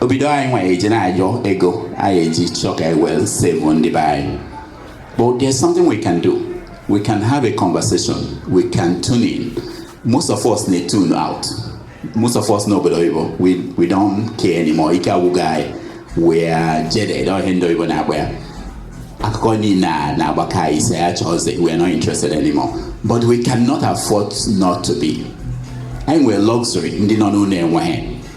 obido anyị nwa eji na-ayọ ego anyị eji chọọ ka anyị wee save ndị be anyị but there's something we can do we can have a conversation we can tune in most of us na tune out most of us n'obodo oyibo we, we don't care anymore ike agwụgo anyị we are jaded ọ ihe ndị oyibo na-akpọ ya akụkọ niile a na-agbaka anyị isi ya chọọzi we are not interested anymore but we cannot afford not to be anyị nwere luxury ndị nọ n'ụlọ enweghị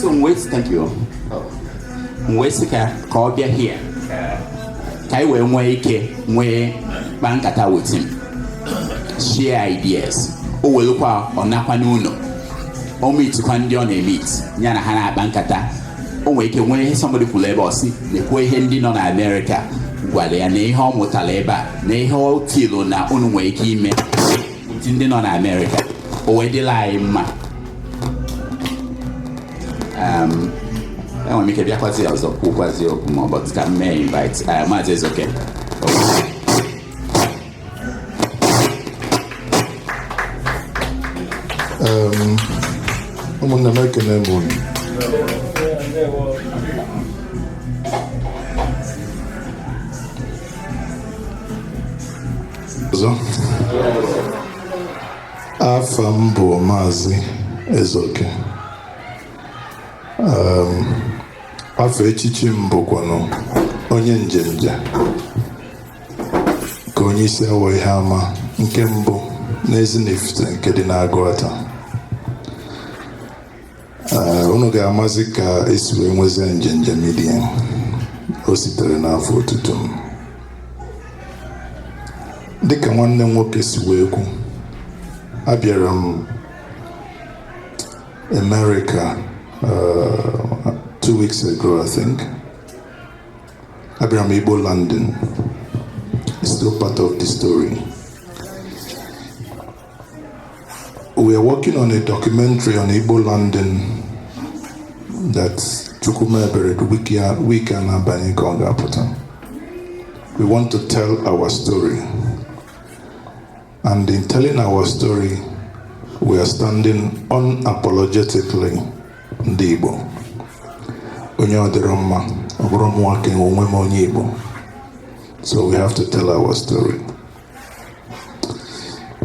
so m wee sị thank you m wee sị ka ka ọ bịa here ka anyị wee nwee ike wee kpaa nkata with him share ideas o welụkwa ọ nakwa n'ụnọ o meetikwa ndị ọ na-emeet ya na ha na-akpa nkata o nwere ike nwee ihe somebody kwuru ebe ọ sị nekwa ihe ndị nọ na Amerịka gwara ya na ihe ọ mụtara ebe a na ihe o kwulu na unu nwere ike ime ndị nọ na Amerịka o wee dịlị anyị mma um, enwere m ike bịakwazi ọzọ kwukwazi okwu more but ka m mee invite uh, maazị ezeoke um, ụmụnne m ekene m unu ọzọ afa m bụ maazị ezeoke um, afa echichi m bụkwanụ onye njenje ka onye isi awọ ihe ama nke mbụ n'ezinifite nke dị n'agụata unu ga-amazi ka esi wee nwezie njenje media o sitere n'afa otutu m dịka nwanne m nwoke si wee kwu abịara m America uh, two weeks ago I think abịara m Igbo landing still part of the story We are working on a documentary on Igbo landing that Chukwu mee ebere the week a na-abanye ka ọ ga-apụta. We want to tell our story. And in telling our story, we are standing unapologetically ndị Igbo onye ọ dịrọ mma ọ bụrọ mụwa kee onwe m onye Igbo so we have to tell our story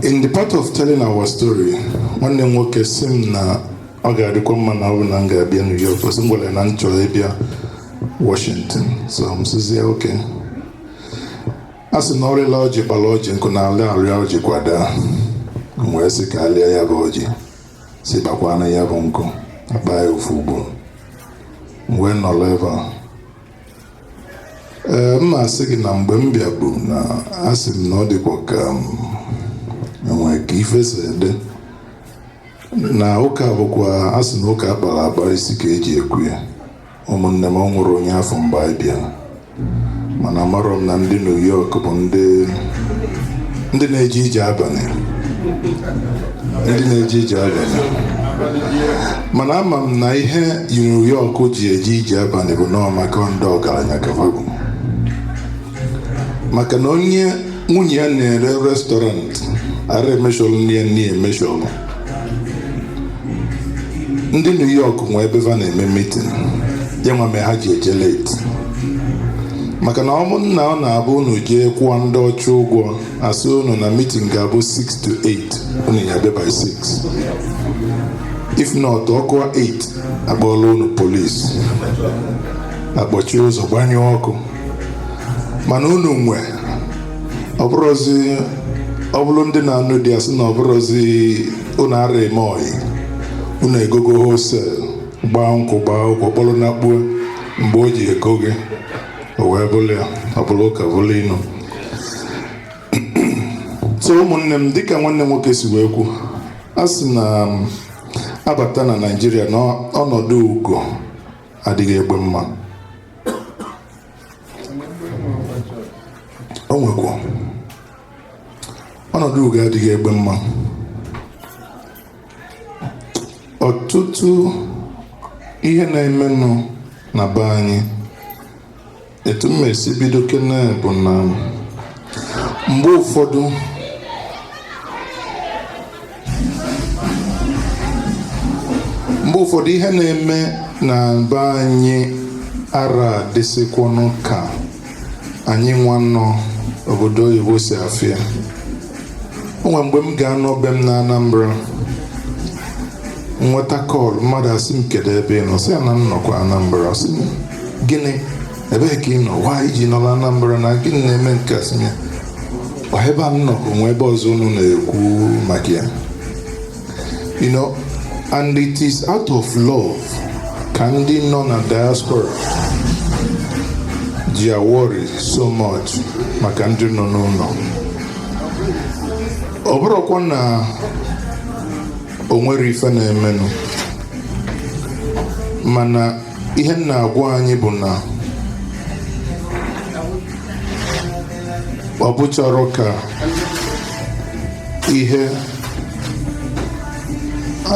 in the part of telling our story nwanne m nwoke sị m na ọ ga-adịkwa mma na ọ bụ na m ga-abịa New York cos m gwara ya na m chọrọ ịbịa Washington so m sịzie okay a sị na ọ rịla ọjị kpara ọjị nkụ na ala arịa ọjị kwa daa m wee sị ka a lịa ya bụ ọjị sị kpakwaa na ya bụ nkụ a kpaa ya ofu ugbo m wee nọrọ ebe a ee m na-asị gị na mgbe m bịabu na asị m na ọ dịkwa ka e nwere ka ife si ede na ụka bụkwa a sị na ụka a kpara akpa isi ka e ji ekwe ya ụmụnne m o nwerọ onye a fụ mgbe anyị bịara mana amarọ m na ndị New York bụ ndị na-eje ije abalị ndị na-eje ije abalị mana ama m na ihe New York ji eje ije abalị bụ nọọ maka ndị ọgaranya ka ha bụ maka na onye nwunye ya na-ere restaurant ara emeshọrọ nni ya nni emeshọrọ ndị New York nwe ebe ha na-eme meeting ya nwa mee ha ji eje late maka na ụmụnna ọ na-abụ unu jee kwụọ ndị ọcha ụgwọ a sị unu na meeting ga-abụ 6 to 8 unu ya-abịa by 6 if not ọ kụwa 8 a kpọọra unu police a kpọchie ụzọ gbanyụọ ọkụ mana unu nwe ọ bụrụzi ọ bụrụ ndị na-anụ di a sị na ọ bụrụzi unu ara eme ọyị unu egogo wholesale gbaa nkwụ gbaa ụkwụ kpọrọ nakpuo mgbe o ji ego gị o wee bụrụ ya ọ bụrụ ụka bụrụ inu so ụmụnne m dịka nwanne nwoke si wee kwu a sị na um, a bata na Naịjirịa na ọnọdụ ugo adịghị egbe mma o nwekwa ọnọdụ ugo adịghị egbe mma ọtụtụ ihe na-emenụ na be anyị etu m esi bido kene bụ na mgbe ụfọdụ ihe na-eme na be anyị ara dịsịkwanụ ka anyị nwa nọ obodo oyibo si afụ ya o nwere mgbe m ga-anọ be m na Anambra nweta call mmadụ asị m kedu ebe ị nọ sị ya na m nọkwa Anambra sị m gịnị ebee ka ị nọ why i ji nọrọ Anambra na gịnị na-eme nke a sị m ya ọ ebe a m nọ ka o nwe ebe ọzọ unu na-ekwu maka ya You know, and it is out of love ka ndị nọ na diaspora ji worry so much maka ndị nọ n'ụnọ ọ bụrụkwa na o nwere ife na-emenụ mana ihe m na-agwa anyị bụ na ọ bụcharọ ka ihe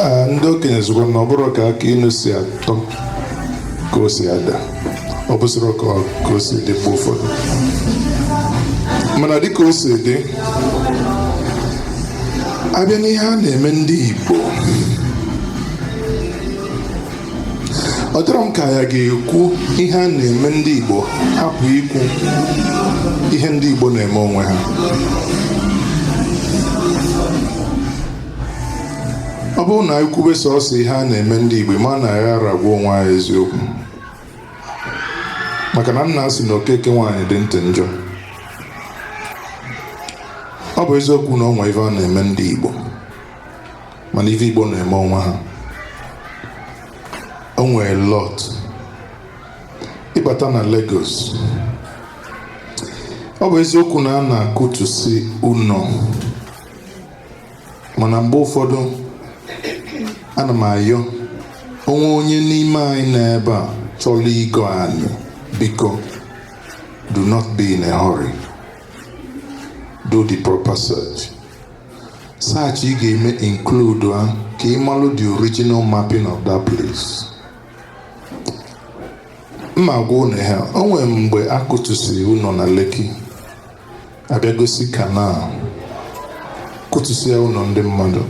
a, ndị okenye sịkwa na ọ bụrọ ka akị inu si atọ ka o si ada ọ bụcharọ ka ọ- ka o si dị mgbe ụfọdụ mana dịka o si dị a bịa n'ihe a na-eme ndị Igbo ọ dịrọ m ka anyị ga-ekwu ihe a na-eme ndị Igbo hapụ ikwu ihe ndị Igbo na-eme onwe ha ọ bụrụ na anyị kwube sọsọ ihe a na-eme ndị Igbo ma na anyị anarọ agwa onwe anyị eziokwu maka na a na-asị na Okeke nwaanyị dị ntị njọ ọ bụ eziokwu na o nwe ife a na-eme ndị Igbo mana ife Igbo na-eme onwe ha o nwere lot ị bata na Lagos ọ bụ eziokwu na a na-akụtusi ụnọ mana mgbe ụfọdụ ana m ayọ o nwee onye n'ime anyị nọ ebe a chọrọ igo anị biko do not be in a hurry do the proper search search ị ga-eme include ha ka ị malụ the original mapping of that place m ma-agwa ụnụ ha o nwere mgbe a kụtụsịrị ụnọ na Lekki a bịa gosi canal kụtụsịa ụnọ ndị mmadụ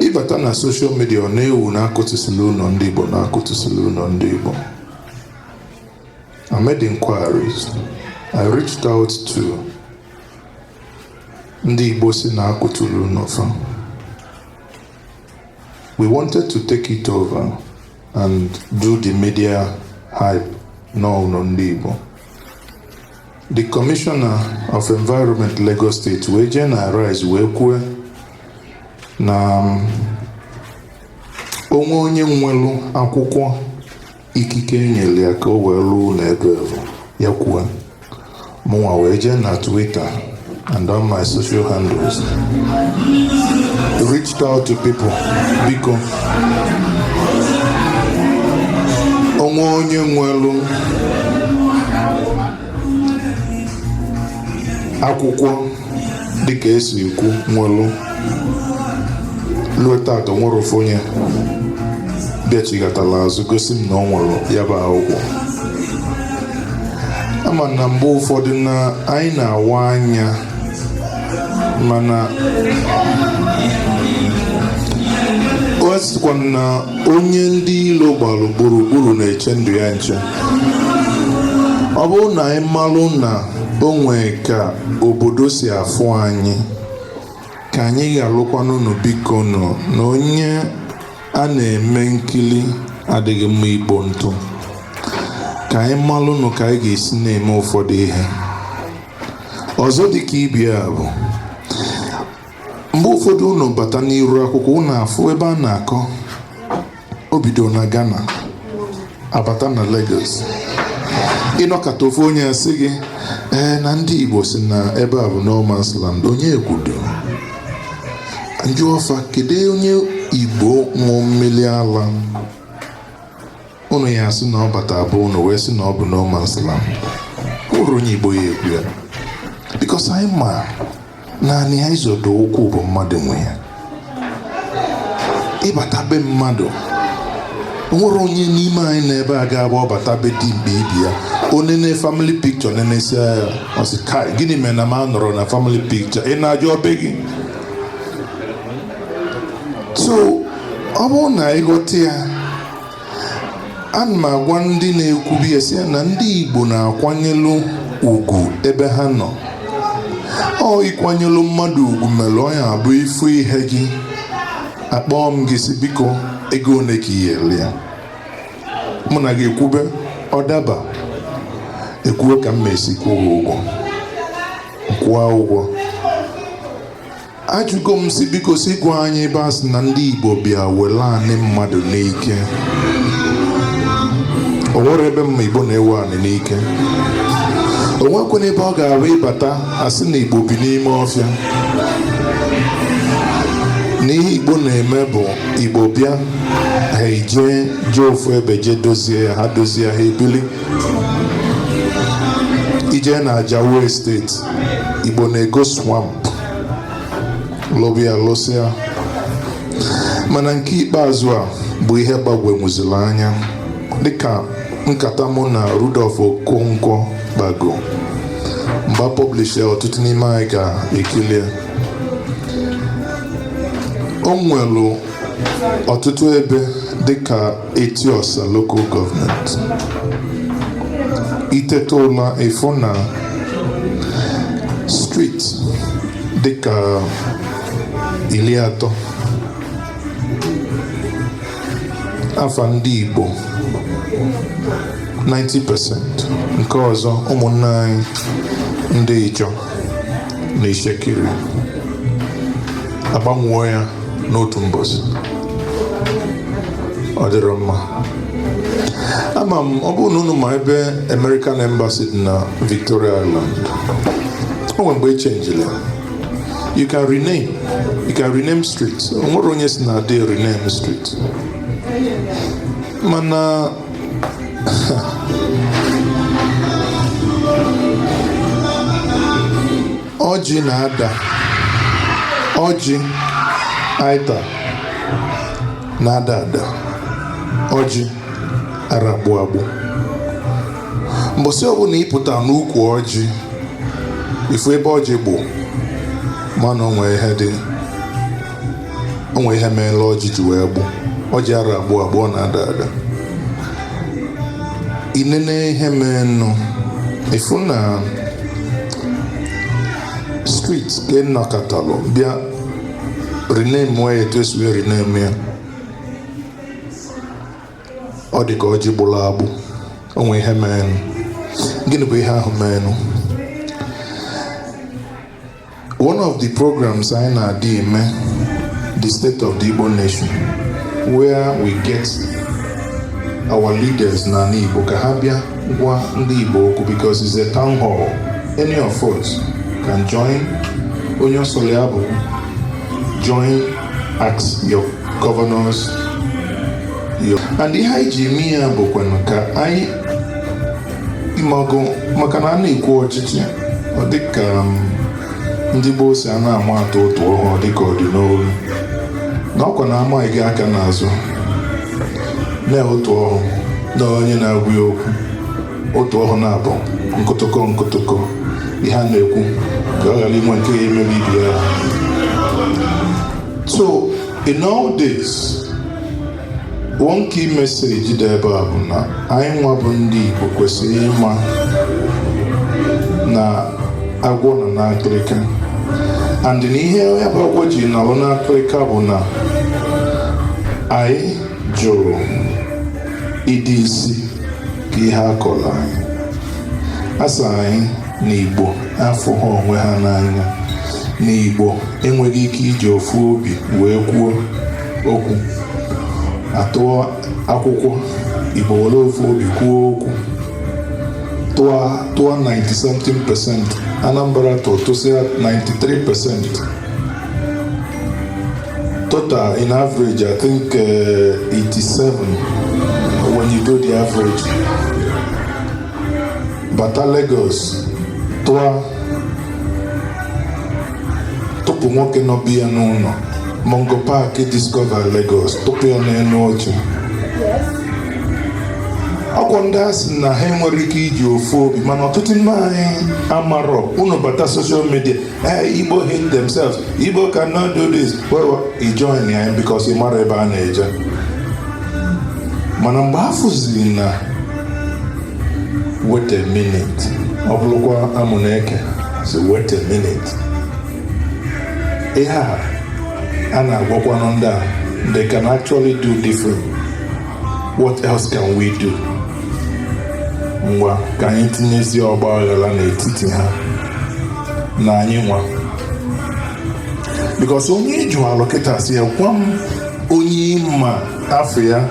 ị bata na social media ọ na-ewu na a kụtụsịrị ụnọ ndị Igbo na a kụtụsịrị ụnọ ndị Igbo I made inquiries. I reached out to ndị Igbo sị na a kụtụrụ ụnọ fa we wanted to take it over and do the media hype na ọ bụ ụnọ ndị Igbo the commissioner of environment Lagos State wee jee na Arise wee kwue na um, o nwee onye nwelu akwụkwọ Ikike e nyere ya ka o wee lụọ ụnọ ebe ahụ ya kwuo mụnwa wee jee na Twitter and on my social handles reached out to people biko o nwee onye nwelu akwụkwọ dịka e si ekwu welụ luo tata nwerọ ofu onye bịachighatala azụ gosi m na o nwere ya bụ akwụkwọ a ma na mgbe ụfọdụ na anyị na-awa anya mana ọ sịkwa na onye ndị ilo gbara gburugburu na-eche ndụ ya nche ọ bụrụ na anyị malụ na o nwee ka obodo si afụ anyị ka anyị ghalụkwanụ nụ biko nụ na onye a na-eme nkili adịghị mma igbo ntụ ka anyị malụnụ ka anyị ga-esi na-eme ụfọdụ ihe ọzọ dịka ibe ya bụ mgbe ụfọdụ unu bata n'iru akwụkwọ unu afụ ebe a na-akọ o bido na Ghana abata na Lagos ị nọkata ofu onye asị gị ee na ndị Igbo sị na ebe a bụ no man's land onye ekwudo m jụọ fa kedu onye Igbo ṅụọ mmiri ala unu ya-asị na ọ bata be unu wee sị na ọ bụ no man's land nwerọ onye Igbo ya-ekwu ya because anyị ma na anị a ị zọdo ụkwụ bụ mmadụ nwe ya ị bata be mmadụ nwere onye n'ime anyị n'ebe a ga-abụ ọ bata be dimkpa ibe ya o nene family picture nenesịa ya ọ sị kai gịnị mere na m anọrọ na family picture ị na-ajụ ọ be gị so ọ bụrụ na ị ghọta ya ana m agwa ndị na-ekwube a sị na ndị Igbo na-akwanyelu ugwu ebe ha nọ ọ ikwanyelu mmadụ ugwu mere ọ ya-abụ ị fụ ihe gị akpọọ m gị sị biko ego one ka i ya-ele ya mụ na gị ekwube ọ daba ekwuwe ka m ma-esi kwụọ ụgwọ kwụọ ụgwọ ajụgo m sị biko sị gwa anyị ebe a sị na ndị Igbo bịa were anị mmadụ n'ike o nwerọ ebe m ma Igbo na-ewe anị n'ike o nwekwanụ ebe ọ ga-abụ ị bata a sị na Igbo bi n'ime ọfịa na ihe Igbo na-eme bụ Igbo bịa ha ejee jee ofu ebe jee dozie ya ha dozie ha ebili i jee na Ajao Estate Igbo na-ego swamp lụba ya lụsịa mana nke ikpeazụ a bụ ihe gbagwonwuziri anya dịka nkata mụ na Rudolf Okonkwo kpago mgbe publish ya ọtụtụ n'ime anyị ga-ekili ya o nwelu ọtụtụ ebe dịka Eti-Osa Local Government iteta ụla ịfụ na street dịka ili atọ afa ndị Igbo 90% nke ọzọ ụmụnne anyị ndị Ijaw na Itsekiri agbanwuo ya n'otu mbọsị ọ dịrọ mma ama m ọ bụrụ na unu ma ebe American Embassy dị na Victoria Island o nwere mgbe e chenjiri ya you can rename street o nwere onye sị na adị rename street mana ọjị na-ada ọjị anyị ta na-ada ada ọjị ara agbụ agbụ mbọsị ọbụla ịpụta n'ukwu ọjị ịfụ ebe ọjị gbụ mana o nwe ihe dị o nwere ihe mere ọjị ji wee gbụ ọjị ara agbụ agbụ ọ na-ada ada i nene ihe menụ ịfụ na street ka a nọkatalụ bịa rename ya etu e si wee rename ya ọ dị ka ọjị gbụrụ agbụ o nwere ihe menụ gịnị bụ ihe ahụ menụ One of the programs anyị na-adị eme the state of the Igbo nation where we get our leaders n'anị Igbo ka ha bịa gwa ndị Igbo okwu because it's a town hall any of us can join onye ọ sọrọ ya bịa join ask your governors your and ihe anyị ji eme ya bụkwanụ ka anyị ịmago maka na a na-ekwu ọchịchị ọ dịka um, ndị gboo si a na-ama atụ ụtụ ọhụrụ dịka ọ dị n'olu na ọkwa na amaghị gị aka n'azụ na otu ọhụụ na onye na-agwa ya okwu otu ọhụụ na-abụ nkụtụkọ nkụtụkọ ihe a na-ekwu ka ọ ghara inwe nke ya emebi ibi ya so in all this One key message dị ebe a bụ na anyị nwa bụ ndị Igbo kwesịrị ịma na agwọ nọ n'akịrịka and na ihe ya bụ agwọ ji nọrọ n'akịrịka bụ na anyị jụrụ ịdịzi ka ihe a kọrọ anyị a sị anyị na Igbo afụhọ onwe ha n'anya na Igbo enweghị ike iji ofu obi wee kwuo okwu atụọ akwụkwọ igbo were ofu obi kwuo okwu tụọ tụọ 90 something percent anambra tụ tụsịa 93 percent total in average i think uh, 87 when you do the average bata lagos tụọ tụpụ nwoke nọ be ya n'ụnọ Mungo Park discover Lagos tụpụ ya n'enu oche ọkwa ndị a sị na ha enwerọ ike iji ofu obi mana ọtụtụ ndị anyị amarọ unu bata social media ee igbo hate themselves igbo cannot do this well ị join ya because ị mara ebe a na-eje mana mgbe afụziri na wait a minute ọ bụrụkwa Amuneke sị wait a minute ihe a a na-agwakwanụ ndị a they can actually do different what else can we do ngwa ka anyị tinyezi ọgba aghara n'etiti ha na anyị nwa because onye ị jụalụ kịta sị ya gwa m onye ị ma afa ya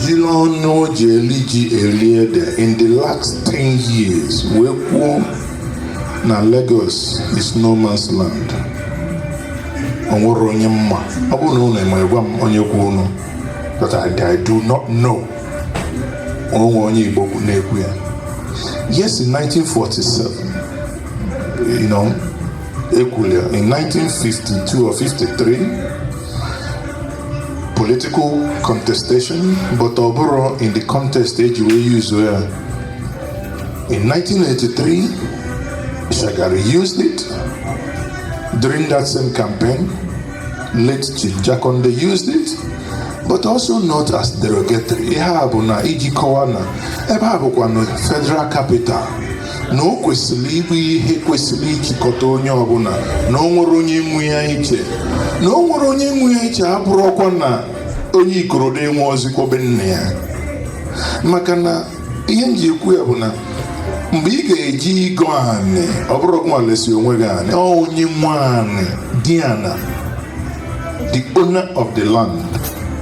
jili ọnụ o ji eli ji eli ede in the last 10 years wee kwuo na Lagos is no man's land o nwerọ onye m ma ọ bụrụ na unu ma gwa m onye kwulu but I, I do not know o nwe onye Igbo na-ekwu ya yes in 1947 you know e kwulu ya in 1952 or 53 political contestation but ọ bụrọ in the context e ji wee use ya in 1983 Shagari used it during that same campaign late Chief Jakande used it but also not as derogatory ihe a bụ na iji kọwa na ebe a bụkwanụ federal capital na o kwesịrị ịbụ ihe kwesịrị ijikọta onye ọbụna na o nwerọ onye nwe ya iche na o nwerọ onye nwe ya iche abụrọkwa na onye Ikorodu enwerọzikwa be nna ya maka na ihe m ji ekwu ya bụ na mgbe ị ga-eji go anị ọ bụrọ gị nwa lesi onwe gị anị ọ onye nwe anị di ana the owner of the land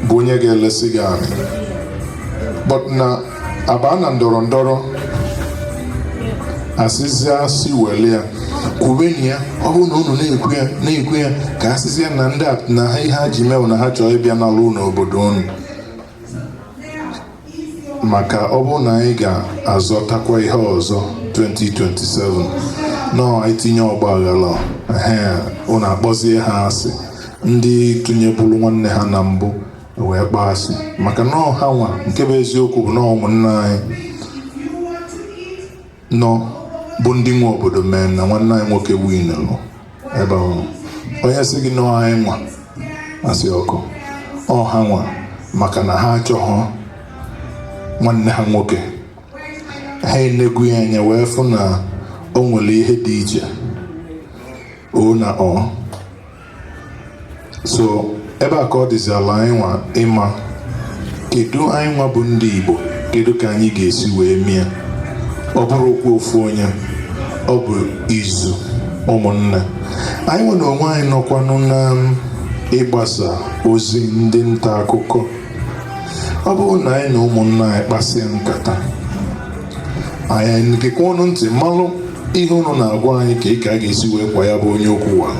bụ onye ga-elesi gị anị but na abaa na ndọrọ ndọrọ a sịzịa sị wele ya kwubeni ya ọ bụrụ na unu na-ekwu ya na-ekwu ya ka a sịzịa na ndị a na ha ihe ha ji mee wụ na ha chọọ ịbịa nala unu obodo unu maka ọ bụrụ na anyị ga-azọtakwa ihe ọzọ 2027 nọ itinye ọgba aghara ehe unu akpọzie ha asị ndị tụnyeburu nwanne ha na mbụ wee kpọọ asị maka na ọ ha nwa nke bụ eziokwu bụ na ụmụnna anyị na ọ bụ ndị nwe obodo mee na nwanne anyị nwoke winụrụ ebe ahụ onye sị gị na ọ anyị nwa asị okwu ọ ha nwa maka na ha achọghọ nwanne ha nwoke ha enegwu ya anya wee fụ na o nwere ihe dị iche o na ọ so ebe a ka ọ dịziala anyị nwa ịma kedu anyị nwa bụ ndị Igbo kedu ka anyị ga-esi wee mee ya ọ bụrọ okwu ofu onye ọ bụ izu ụmụnne anyị nwa n'onwe anyị nọkwanụ na ịgbasa ozi ndị nta akụkọ ọ bụrụ na anyị na ụmụnna anyị kpasịa nkata anyị egekwa unu ntị malụ ihe unu na-agwa anyị ka ị ka a ga-esi wee kwọ ya bụ onye ukwu wa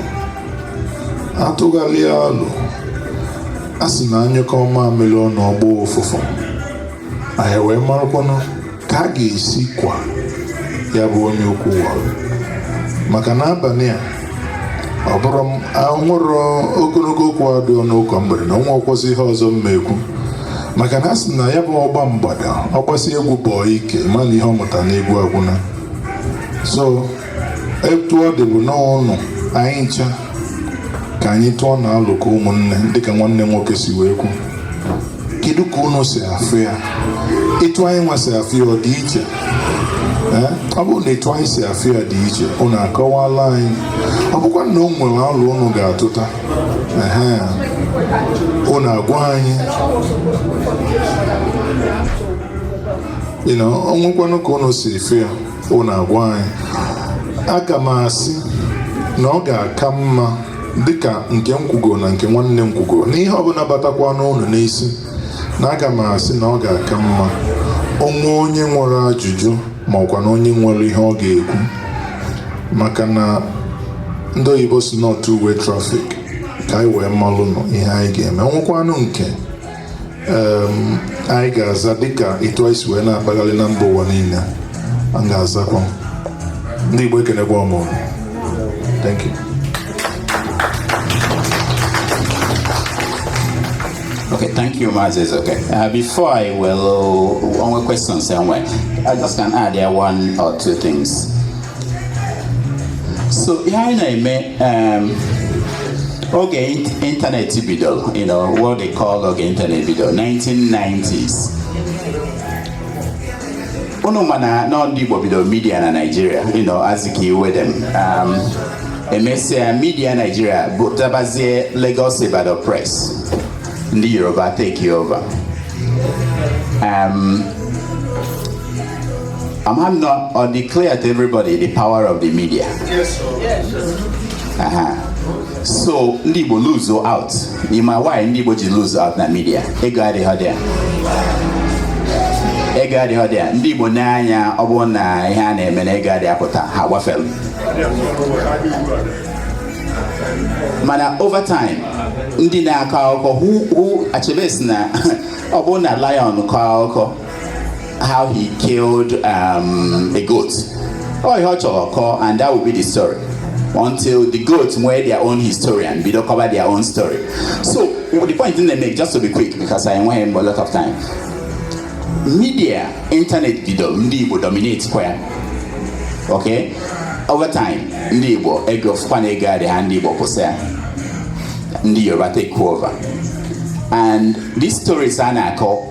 a tụgharịa alo a sị na a nyụkọọ mamịrị ọnụ ọ gbọọ ụfụfụ anyị wee marakwanụ ka a ga-esi kwa ya bụ onye ukwu wa maka na abalị a ọ bụrụ m anwụrụ ogologo okwu adịrọ n'ụka mgbede na o nwerọkwazi ihe ọzọ m ma ekwu maka na a sị na ya bụ ọgba mgbada ọ gbasịa egwu bọọ ike ma na ihe ọ mụta n'egwu agwụna so etu ọ dị bụ n'ọnụ anyị ncha ka anyị tụọnụ alo ka ụmụnne dịka nwanne nwoke si wee kwu kedu ka unu si afụ ya etu anyị nwa si afụ ya ọ dị iche Ee, ọ bụrụ na etu anyị si afụ ya dị iche unu akọwala anyị ọ bụkwa na o nwere alo unu ga-atụta ehe unu agwa anyị you know, o nwekwanụ ka unu si efe ya unu agwa anyị aga m asị na ọ ga-aka mma dịka nke m kwugo na nke nwanne m kwugo na ihe ọbụla batakwanụ unu n'isi na aga m asị na ọ ga-aka mma o nwee onye nwere ajụjụ ma ọ kwanụ onye nwere ihe ọ ga-ekwu maka na ndị oyibo sị na ọ two-way traffic ka anyị wee malụnụ ihe anyị ga-eme o nwekwanụ nke anyị ga-aza dịka etu anyị si wee na-akpagharị na mba ụwa niile a ga-azakwa ndị Igbo ekenekwa m unu thank you Okay, thank you, Mazi. Okay, uh, before I will, uh, one more question, somewhere. I just can add there one or two things. so ihe anyị na-eme um, oge ịntanetị bidoro you know what they call oge ịntanetị bidoro 1990s unu ma na ọ ndị Igbo bidoro midia na Naịjirịa you know Azikiwe dem um, emesịa midia Naịjirịa bụ dabazie Lagos Ibadan Press ndị Yoruba take over um, A ma m na ọ dị clear to everybody the power of the media. Yes, sir. Yes, sir. Uh-huh. So ndị Igbo lose out. Ị ma why ndị Igbo ji lose out na media. Ego adịghị there. Ego adịghị there. Ndị Igbo nee anya ọ bụrụ na ihe a na-eme na ego adịghị apụta ha gbafere. Mana over time ndị na-akọ akụkọ who who Achebe sị na ọ bụrụ na lion kọọ akụkọ how he killed um, a goat. Ọ ihe ọ chọrọ ọ kọọ and that will be the story until the goats nwee their own historian bido kọwa their own story. So the point m na-eme just to be quick because enweghị m a lot of time. Media internet bido ndị Igbo dominate kwa ya. Okay? Over time ndị Igbo ego fụkwa na ego adịghị ya ndị Igbo kwụsị ya. Ndị Yoruba take over. And these stories a na-akọ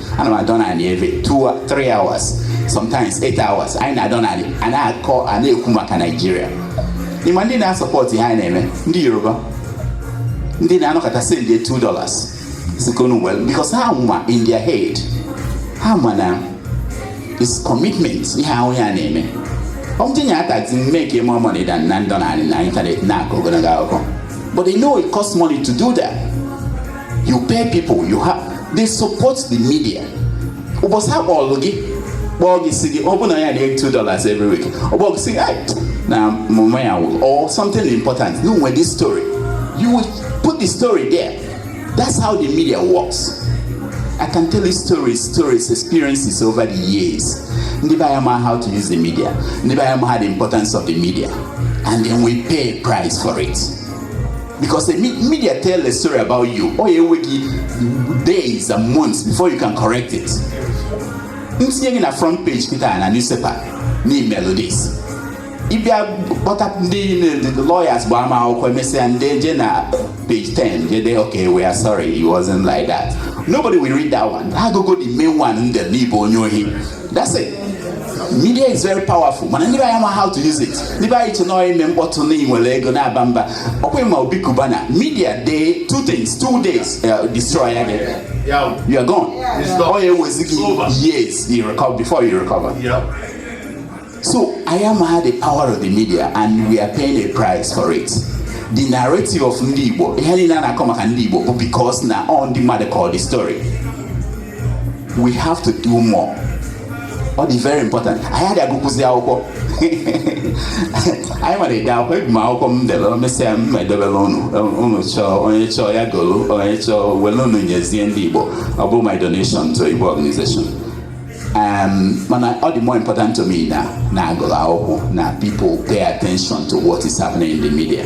ana m anọdụ anị every 3 hours sometimes 8 hours anyị na-anọdụ anị a na-akọ a na-ekwu maka Naịjirịa ị ma ndị na-asupport ihe anyị na-eme ndị Yoruba ndị na-anọkọta sendie 2 dollars sikonu well because ha ma in their head ha ma na it's commitment ihe ahụ anyị na-eme ọ m tinye a taxi m make more money than ịnọdụ anị na ịntanetị na-akọ ogologo akụkọ but they know it costs money to do that you pay people you have they support the media ụbọchị ọ kpọọlụ gị kpọọ gị sị gị ọ bụ na ya na-enye 2 dollars every week ọ kpọọ gị sị gị na mama ya nwụrụ or something important ya nwere this story you will put the story there that's how the media works I can tell you stories, stories, experiences over the years. Ndị be anyị amaghị how to use the media. Ndị be anyị amaghị the importance of the media. And then we pay a price for it. because the media tell a story about you ọ ya-ewe gị days and months before you can correct it e tinye gị na front page kịta na newspaper na i melu this ị bịa kpọta ndị the lawyers gbaa ha akwụkwọ emesịa ndị je na page 10 je dee okay we are sorry it wasn't like that nobody will read that one ha agụgo the main one ndị na ị bụ onye ohi that's it media is very powerful mana ndị be anyị ama how to use it ndị be anyị che na ọ ime mkpọtụ na i nwere ego na-aba mba ọkwa ị ma Obi Cubana media dee two things two days uh, destroy ya gị you are gone ọ ya ewezi gị years you recover before you recover yeah. so anyị amaha the power of the media and we are paying a price for it the narrative of ndị Igbo ihe niile a na-akọ maka ndị Igbo bụ because na ọ ndị mmadụ kọlụ the story we have to do more ọ dị very important anyị adị agụkwụzi akwụkwọ anyị nwere ide akwụkwọ ebu m akwụkwọ m delu emesịa m edebelu unu unu chọọ onye chọọ ya golu onye chọọ were unu nyezie ndị Igbo ọ bụ my donation to Igbo organization um, mana ọ dị more important to me na na a gụrụ akwụkwọ na people pay attention to what is happening in the media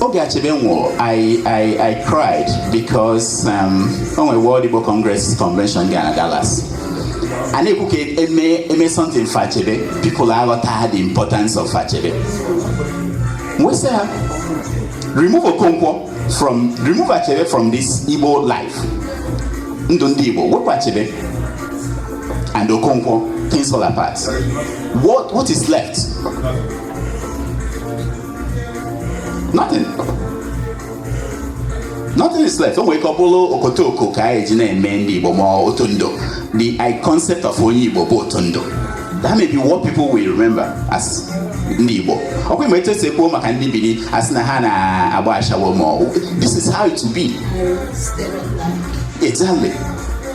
oge Achebe nwụrụ I, I, I cried because um, o nwere World Igbo Congress convention dị na Dallas a na-ekwu ka e mee something for Achebe people aghọta the importance of Achebe we say ha remove Okonkwo from remove Achebe from this Igbo life ndụ ndị Igbo wepụ Achebe and Okonkwo things fall apart what, what is left nothing nothing is left o nwere ike ọ bụrụ okotoko ka anyị ji na-eme ndị Igbo ma otondo the I concept of onye Igbo bụ otondo that may be what people will remember as ndị Igbo ọkwa ị ma etu e si ekwu maka ndị Bini a sị na ha na-agba ashawo ma this is how it will be exactly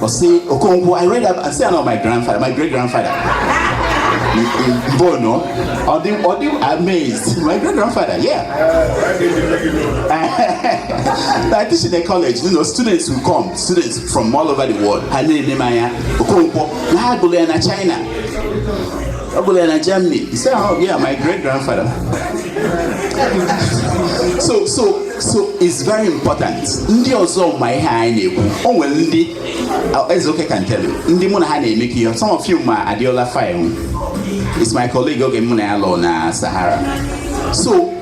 Ọ sị Okonkwo, I read about, I say about my grandfather, my great grandfather. Bono, ọ dị ọ dị amazed, my great grandfather, yeah. I teach in a college, you know, students will come, students from all over the world. Ha na-ene m anya, Okonkwo, na ha gụrụ ya na China. Ọ gụrụ ya na Germany. He said, oh yeah, my great grandfather. so, so so it's very important ndị ọzọ ma ihe anyị na-ekwu o nwere ndị Ezeoke can tell you ndị mụ na ha na-emekọ ihe some of you ma Adeola Fayehun it's my colleague oge mụ na ya lụlụ na Sahara so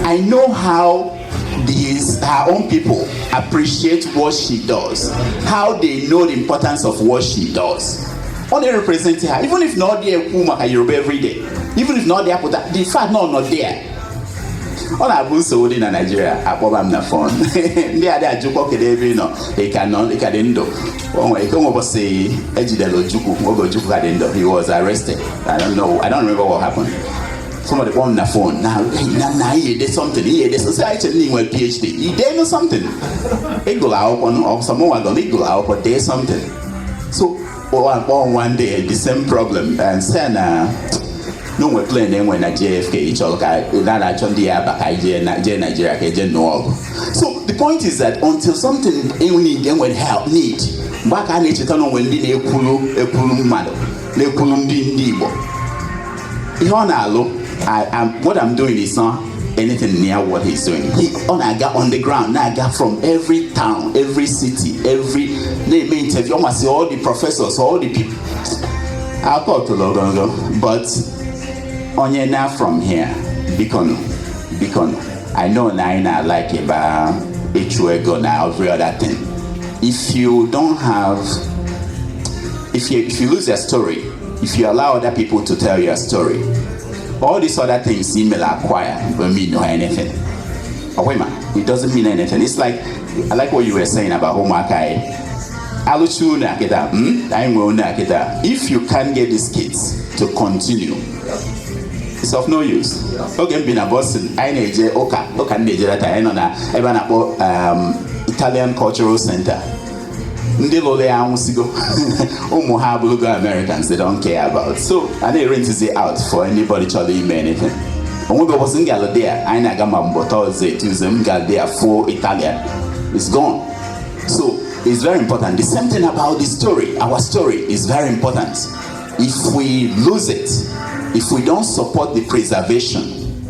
i know how these her own people appreciate what she does how they know the importance of what she does ọ na-represent ha even if na ọ dị ekwu maka Yoruba every day even if na ọ dị apụta the fact na ọ nọ there ọ na-abụ nsogbu dị na naijiria akpọba m na fon ndị a dị ajụkọ kedu ebe ị nọ ị ka nọ ị ka dị ndụ o nwere ike nwe ụbọsị ejidere ojukwu oge ojukwu ka dị ndụ he was arrested i don't know i don't remember what happened somebody kpọọ m na fon na na na ihe ede something ihe ede sosị anyị chere na ị nwere phd i denụ something ị gụrụ akwụkwọ ọ sọ mụnwa gụrụ ị gụrụ akwụkwọ dee something so kpọwa m kpọ one day the same problem and sị na o nwe plen e nwe na JFK chọrọ ka na na-achọ ndị ya-aba ka jee Naijiria ka e je nụọ ọgụ so the point is that until something e nwere help need mgbe a ka a na-echeta na o nwe ndị na-ekwuru ekwuru mmadụ na-ekwuru ndị ndị Igbo ihe ọ na-alụ what I'm doing is not anything near what he's doing. He ọ na-aga on the ground na-aga from every town every city every na-eme interview almost all the professors all the people akọtụlụ ogologo but onye naa from here bikonụ bikonụ I know na anyị na like ebe ịchụ ego na every other thing if you don't have if you, if you lose your story If you allow other people to tell your story, all these other things you may acquire will mean no anything. But wait, man, it doesn't mean anything. It's like I like what you were saying about Homakai. Aluchu Nakeda, hmm? I will Nakeda. If you can't get these kids to continue, it's of no use. oge m bi na Boston anyị na-eje ụka ụka m na-eje leta anyị nọ na ebe a na-akpọ um, Italian Cultural Center ndị lụrụ ya anwụsigo ụmụ ha abụrụgo Americans they don't care about so a na-erentizi out for anybody chọrọ ime anything o nwe ụbọchị m gara there anyị na-aga ma ọ bụ Thursday Tuesday m gara there fụ Italian it's gone so it's very important the same thing about the story our story is very important if we lose it if we don't support the preservation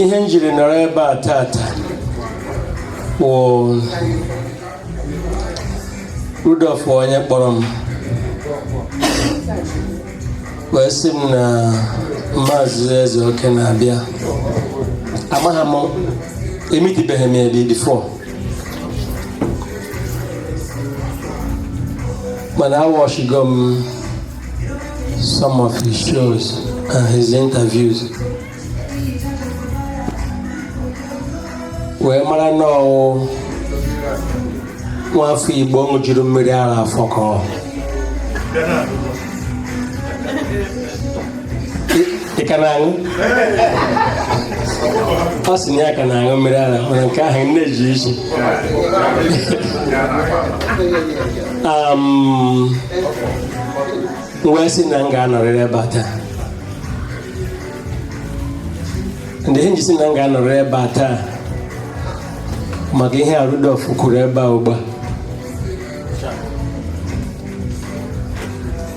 ihe njiri nọrọ ebe a tata wụ Rudolf onye kpọrọ m wee sị m na maazị ezeoke na-abịa amaghị m emitibeghị m ya before mana awọchigo m some of his shows and his interviews wee mara na ọ wụ nwa afọ igbo ṅụjuru mmiri ara afọ ka ọ ị ka na-aṅụ ọ sị na ya ka na-aṅụ mmiri ara mana nke ahụ na-eji isi um, wee sị na m ga-anọrịrị ebe a taa ndị ihe nji sị na m ga-anọrịrị ebe a taa maka ihe a Rudolf kwuru ebe a ugbu a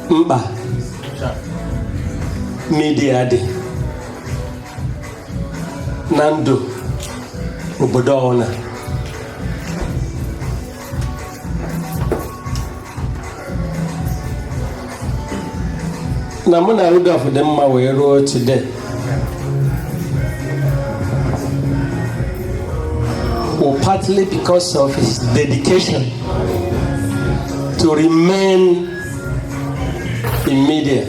mkpa midia dị na ndụ obodo ọ wụla na mụ na Rudolf dị mma wee ruo today well, partly because of his dedication to remain in media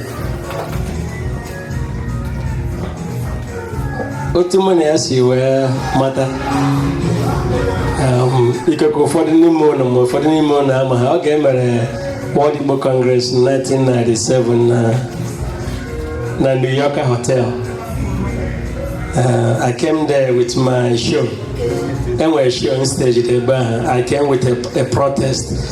otu mụ na ya si wee mata um, ikekwe ụfọdụ n'ime unu ma ụfọdụ n'ime unu amaha oge e mere World Igbo Congress 1997 na na New York Hotel uh, I came there with my show e nwere show on stage ebe ahụ I came with a, a protest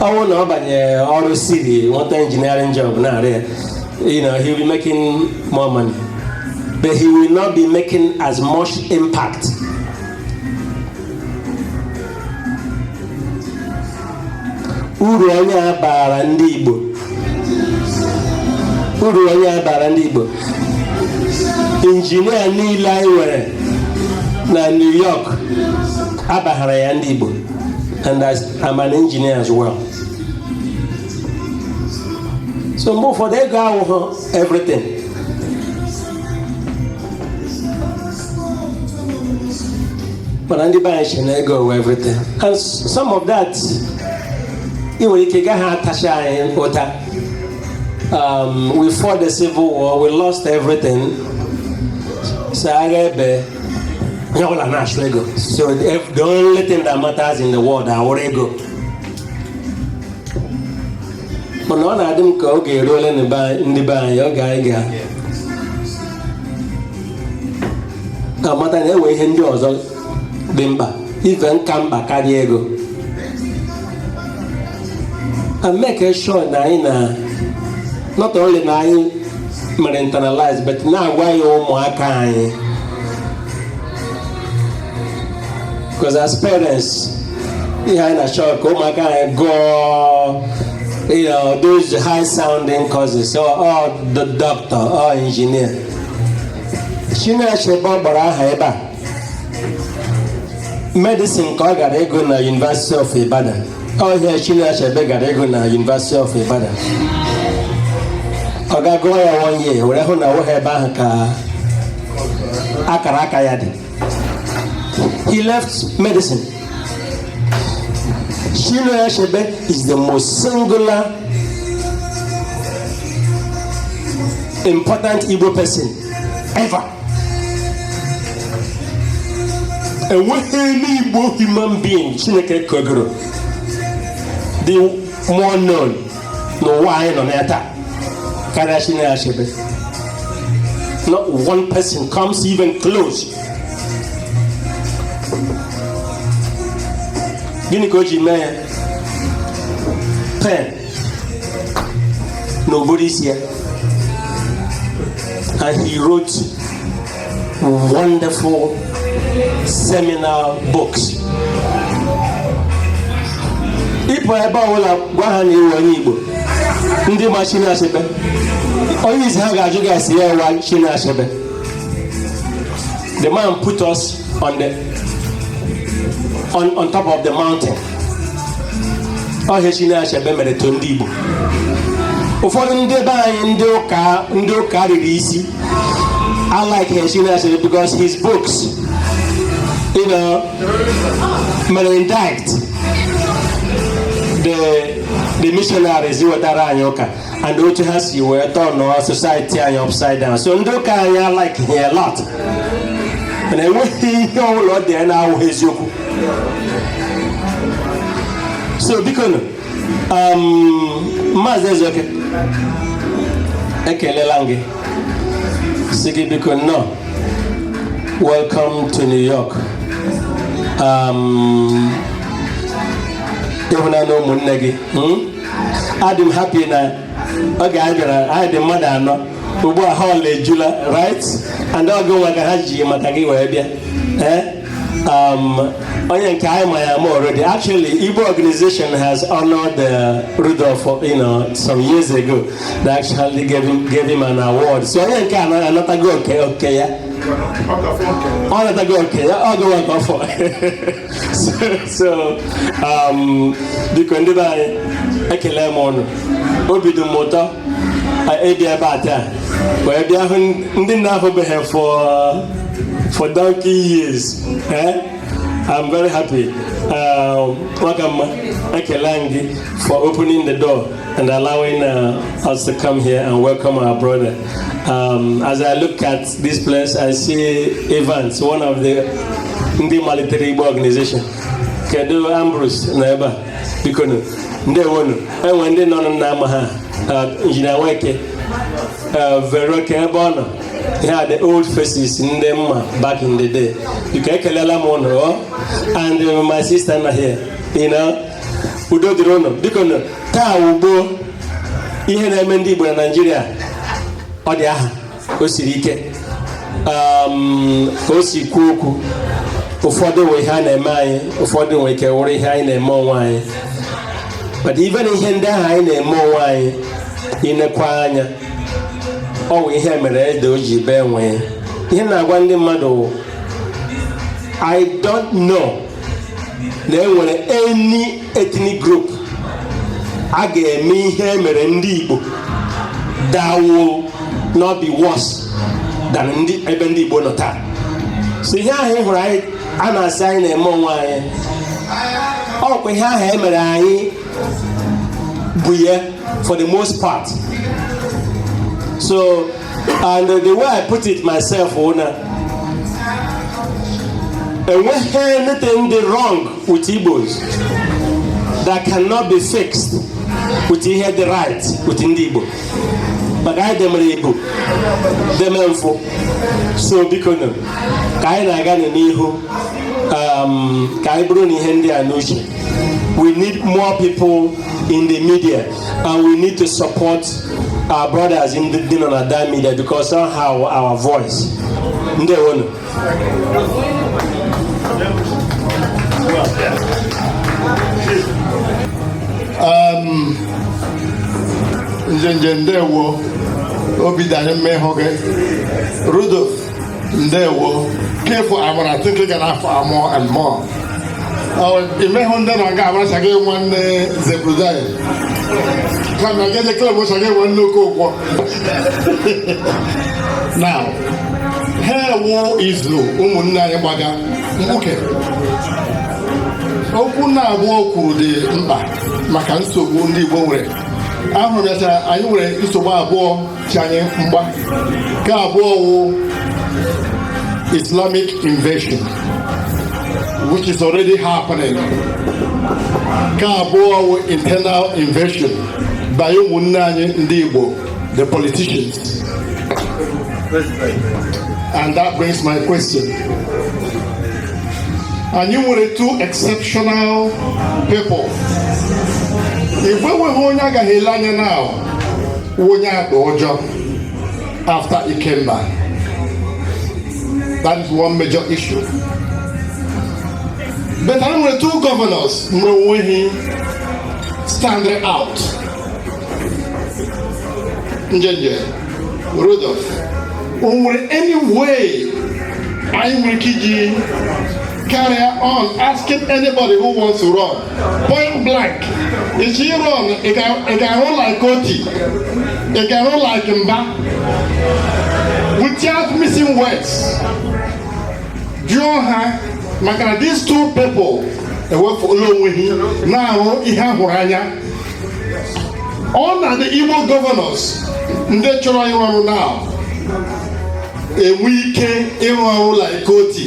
ọ wụ na ọ banye ọrụ city nweta engineering job na-arụ ya you know he will be making more money but he will not be making as much impact uru onye a bara ndị Igbo uru onye a bara ndị Igbo injinia niile anyị nwere na New York abaghara ya ndị Igbo and I I'm an engineer as well. So mgbe ụfọdụ ego awụhụ everything. Mana ndị be anyị sị na ego wụ everything. And s- some of that i nwere ike gaghị atacha anyị ụta. Um, we fought the civil war, we lost everything. So agha ebie Onye ọ wụla na-achụ ego. So if the only thing that matters in the world awụrụ ego. Mana ọ na-adị m ka oge eruole na be anyị- ndị be anyị oge anyị ga-amata na e nwe ihe ndị ọzọ dị mkpa even ka mkpa karịa ego. And make sure na anyị na not only na anyị mere internalize but na-agwa ya ụmụaka anyị because as parents ihe anyị na-achọ ka ụmụaka anyị gụọ you know, those high sounding courses or, oh, or oh, the doctor or oh, engineer. Chinua Achebe a kpọrọ aha ebe a medicine ka ọ gara ịgụ na University of Ibadan ọ ihe Chinua Achebe gara ịgụ na University of Ibadan ọ gaa gụọ ya one year were hụ na ọ wụghị ebe ahụ ka akara aka ya dị he left medicine Chinua Achebe is the most singular important Igbo person ever enweghị any Igbo human being chineke kegoro dị more known n'ụwa anyị nọ na ya taa karịa Chinua Achebe not one person comes even close gịnị ka o ji mee ya pen na ụbụrụ isi ya and he wrote wonderful seminal books ị pụọ ebe ọbụla gwa ha na ị wụ onye Igbo ndị ma Chinua Achebe onye izizi ha ga-ajụ gị ase ya wụ Chinua Achebe the man put us on the on, on top of the mountain ọ ihe Chinua Achebe mere to ndị Igbo ụfọdụ ndị be anyị ndị ụka ndị ụka riri isi alikeghị Chinua Achebe because his books, you know, mere indict the the missionaries wetara anyị ụka and otu ha si wee tọnụọ society anyị upside down so ndị ụka anyị alikeghị ya a lot mana enweghị ihe ọbụla o dere na-awụghị eziokwu so biko nụ um, maazị ezeoke ekelela m gị sị gị biko nnọọ welcome to new york um, ị hụna ụmụnne gị hmm? adị m happy na oge anyị bịara anyị dị mmadụ anọ ugbu a hall ejula right and ọ gịnwa ka ha ji maka gị wee bịa eh? um, onye nke a anyị ma ya ama already actually Igbo organization has honored uh, Rudolph you know, some years ago they actually gave him, gave him an award so onye nke a anatago oke oke ya ọ natago oke ya ọ gịnwa ka ọ fọ so um, biko ndị be anyị ekele m ụnụ obi dị m ụtọ ịbịa ebe a taa wee bịa hụ ndị m na-ahụbeghị for for donkey years eh? I'm very happy um, nwoke ọma ekele m gị for opening the door and allowing uh, us to come here and welcome our brother um, as I look at This place I see Evans, one of the ndị malitere Igbo organization. Kedu Ambrose na ebe a? Biko nụ, ndewonu. Enwe ndị nọ na ama ha, uh, Injinia Nweke, uh, Vero kee ebe ọ nọ. Ihe a the old faces ndị m ma back in the day. Biko ekelela m ụnụ ọ and uh, my sister nọ here. You know, udo dịrị ụnụ. Biko nụ, taa wụ gboo ihe na-eme ndị Igbo na Naịjirịa ọ dị aha o siri ike um, ka o si kwuo okwu ụfọdụ wụ ihe a na-eme anyị ụfọdụ nwe ike wụrụ ihe anyị na-eme onwe anyị but even ihe ndị ahụ anyị na-eme onwe anyị i nekwa anya ọ wụ ihe mere ede o ji bee nwịị ihe m na-agwa ndị mmadụ wụ I don't know na enwere any ethnic group a ga-eme ihe e mere ndị Igbo that will not be worse than ebe ndị Igbo nọ taa so ihe ahụ ị hụrụ a na-asị anyị na-eme onwe anyị ọ wụkwa ihe ahụ e mere anyị bụ ya for the most part so and the way I put it myself na enweghị anything dị wrong with Igbos that cannot be fixed with ihe dị right with ndị Igbo maka anyị demere Igbo deme mfụ so biko nụ ka anyị na-aga n'ihu um, ka anyị buru nụ ihe ndị a n'uche we need more people in the media and we need to support our brothers ndị nọ na that media because somehow our voice ndewonu um, Njenje ndewo obi dị anyị mma ịhụ gị Rudolf ndewo kefụ agbara tịtị ga na-afọ amụọ and more imehụ ndị nọ nga agbara chaga nwanne Zebrudaya kama ga eje klọb chaga nwanne Okonkwọ now ihe a wụ izu ụmụnne anyị gbaga mkpuke okwu naabụọ o kwuru dị mkpa maka nsogbu ndị igbo nwere ahụrụ ya anyị nwere nsogbu abụọ cha anyị mgba nke mbụ wụ Islamic invasion which is already happening nke abụọ wụ internal invasion by ụmụnne anyị ndị Igbo the politicians and that brings my question anyị nwere two exceptional people igwe nweghị onye agaghị ele anya now onye ọzọ after Ikemba that is one major issue but anyị nwere two governors nwere onwe ha standing out njenje Rudolf o nwere any way anyị nwere ike iji carry on asking anybody who wants to run point blank ị chọọ ị run ị ga-arụ like Otti ị ga-arụ like Mbah without missing words jụọ ha maka na these two people ewefula onwe ha na-arụ ihe a hụrụ anya ọ na the Igbo governors ndị chọrọ ịrụ ọrụ now enwe ike ịrụ ọrụ like Otti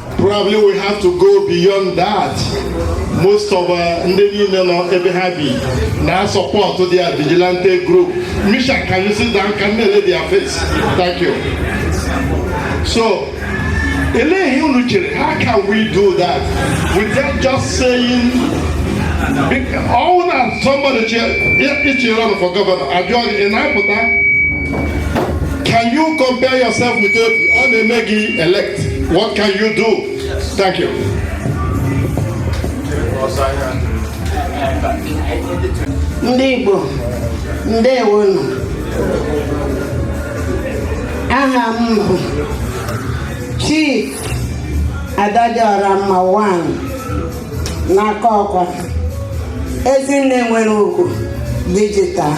Probably we have to go beyond that. Most of uh, ndị niile nọ ebe ha bi na support their vigilante group. Misha, can you sit down? Can you lay their face? Thank you. So, elee ihe unu chere? How can we do that without just saying ọ wụ na somebody ị chọọ ị run for governor a jụọ gị ị na-apụta Can you compare yourself with Obi? Ọ na e mee gị elect. What can you do? Thank you. Ndị Igbo, ndewonu. Aha m bụ Chief Adadịọramma One n'Akokwa. Ezinne nwere ugwu digital.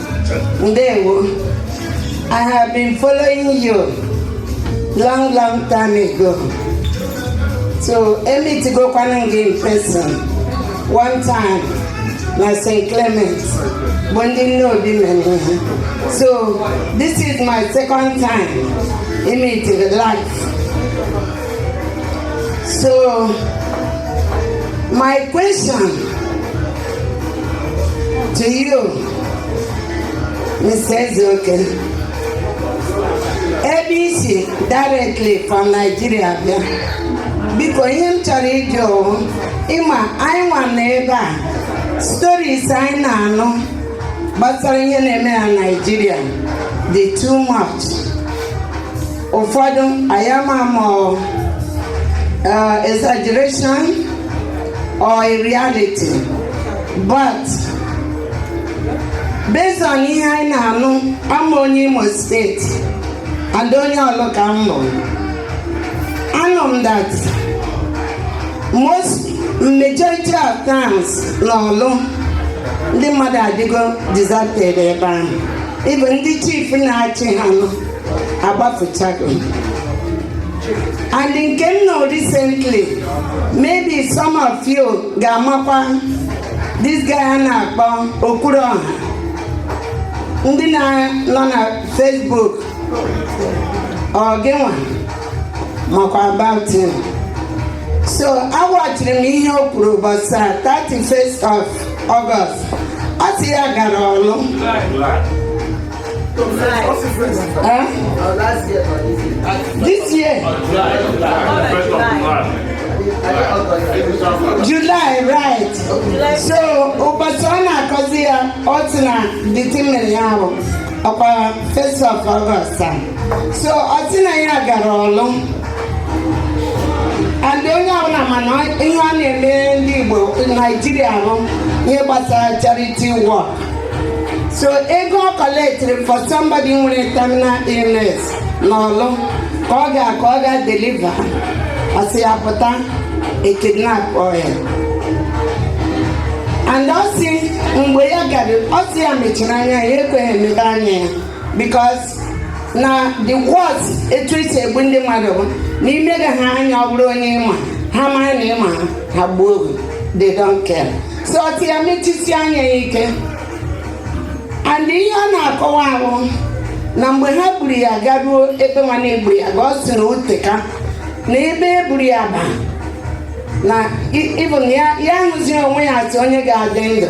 ndewo i have been following you long long time ago so emetigokwana gị in person one time na st clement bụ ndị nne obi mere so this is my second time emetigị life so my question to you ebe i si directly from Nigeria bịa biko ihe m chọrọ ịjụ ị ma anyị nwa na ebe a stories anyị na-anụ gbasara ihe na-eme na Naịjirịa dị too much ụfọdụ anyị ama ma ọ exaggeration or a reality but based on ihe anyị na-anụ abụ m onye Imo State and onye Ọlụ ka m bụ anụ m that most majority of towns n'Ọlụ ndị mmadụ adịgo deserted ebe ahụ even ndị chief na-achị ha nọ agbafechago and nke m nụ recently maybe some of you ga-amakwa this guy a na-akpọ Okwuruọha ndị na-nọ na Facebook or gịnwa makwa about him so awachiri m ihe o kwuru ụbọchị a 31st of August ọ sị ya gara Ọlụ Huh? This year. July, right. So, ụbọchị ọ na-akọzi ya ọ sị na the thing mere ya ahụ ọkwa first of August a. So, ọ sị na ya gara Ọlụ. And onye ọbụla ma na ihe ọ na-eme ndị Igbo Naijiria bụ ihe gbasara charity work. so ego ọ kọlektiri for somebody nwere terminal illness n'Ọlụ ka ọ ga ka ọ ga deliver ọ sị ya pụta e kidnapụọ ya and ọ sị mgbe ya gara ọ sị ya mechiri anya ya ekweghị emepe anya ya because na the words etu e si egbu ndị mmadụ bụ na imega ha anya ọ bụrụ onye ị ma ha mara na ị ma ha ha gbuo gị they don't care so ọ sị ya mechisi anya ya ike and ihe ọ na-akọwa ahụ na mgbe ha buru ya garuo ebe nwa na e buru ya ga ọ sị na o teka na ebe e buru ya ba na even ya ahụzi onwe ya as onye ga-adị ndụ